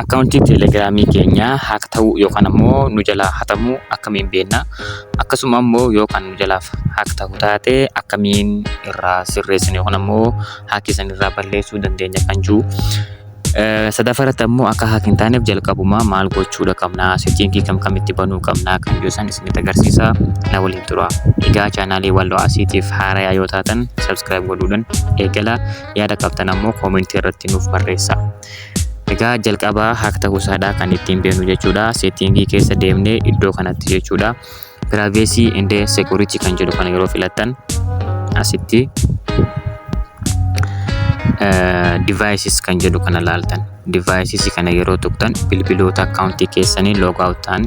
Akkaawuntiin telegiraamii keenya haak ta'uu yookaan ammoo nu jalaa hatamuu akkamiin beekna? Akkasuma ammoo yoo kan nu jalaa haak ta'u taate akkamiin irraa sirreessina yookaan ammoo haakii san irraa balleessuu dandeenya kan jiru. Sadaffaa irratti ammoo akka haak hin taaneef jalqabumaa maal gochuudha qabna? Seetiingii kam kamitti banuu qabna? Kan jiru san isinitti agarsiisa. Na waliin tura. Egaa chaanaalii Walloo Asiitiif haarayaa yoo taatan sabskiraayib godhuudhaan eegala. Yaada qabdan ammoo koomentii irratti nuuf barreessaa. Egaa jalqaba hack ta'uu isaadha kan ittiin beeknu jechuudha. Setting keessa deemnee iddoo kanatti jechuudha. Privacy and security kan jedhu kana yeroo filattan asitti devices kan jedhu kana laaltan. Devices kana yeroo tuqtan bilbiloota akkaawuntii keessanii log out ta'an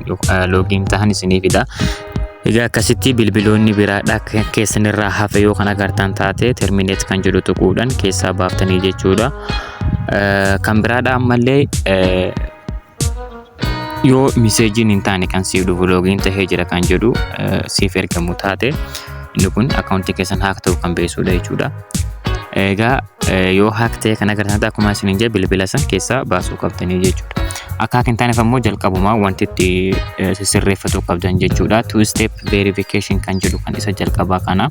login ta'an isiniif fida. Egaa akkasitti bilbiloonni biraadha keessanirraa hafe yoo kan agartan taate terminate kan jedhu tuquudhaan keessaa baaftanii jechuudha. Kan biraadha ammallee yoo miseejiin hin taane kan siif dhufu loogiin tahee jira kan jedhu siif ergamu taate inni kun akkaawuntii keessan haak ta'uu kan beeksisuudha jechuudha. Egaa yoo haak ta'e kan agarsiisan akkuma isin hin jee bilbila san keessaa baasuu qabdanii jechuudha. Akka haak hin taaneef ammoo jalqabumaa wanti itti sirreeffatuu qabdan jechuudha. Two step verification kan jedhu kan isa jalqabaa kana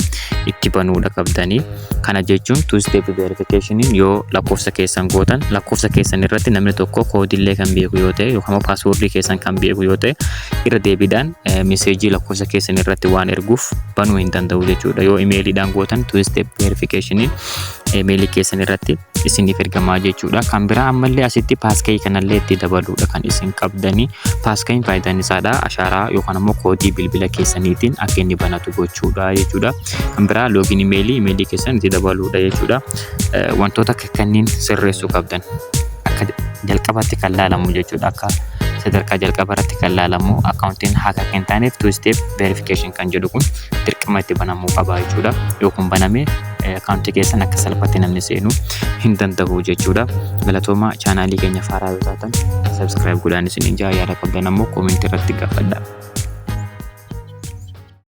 itti banuudha qabdanii. Kana jechuun two step verification yoo lakkoofsa keessan gootan lakkoofsa keessan irratti namni tokko koodiillee kan beeku yoo ta'e yookaan immoo paaswoordii keessan kan beeku yoo ta'e irra deebiidhaan meseejii lakkoofsa keessan irratti waan erguuf banuu hin danda'u jechuudha. Yoo imeeliidhaan gootan two step verification imeelii keessan irratti isiniif ergamaa jechuudha. Kan biraa ammallee asitti paaskayii kanallee itti dabaluudha kan isin qabdanii paaskayiin faayidaan isaadha ashaaraa yookaan immoo koodii bilbila keessaniitiin akka inni banatu gochuudha jechuudha. Kan biraa loogiin imeelii imeelii keessan itti dabaluudha jechuudha. Wantoota kanneen sirreessuu qabdan akka jalqabaatti kan laalamu jechuudha akka sadarkaa jalqaba irratti kan laalamu akkaawuntiin haaka akka hin taaneef two step verification kan jedhu kun dirqama itti banamuu qaba jechuudha. Yoo kun baname akkaawuntii keessan akka salphaatti namni seenu hin danda'u jechuudha. Galatooma chaanaalii keenya faaraa yoo taatan subscribe godhaan isin ijaa yaada qabdan ammoo koomentii irratti gaafadha.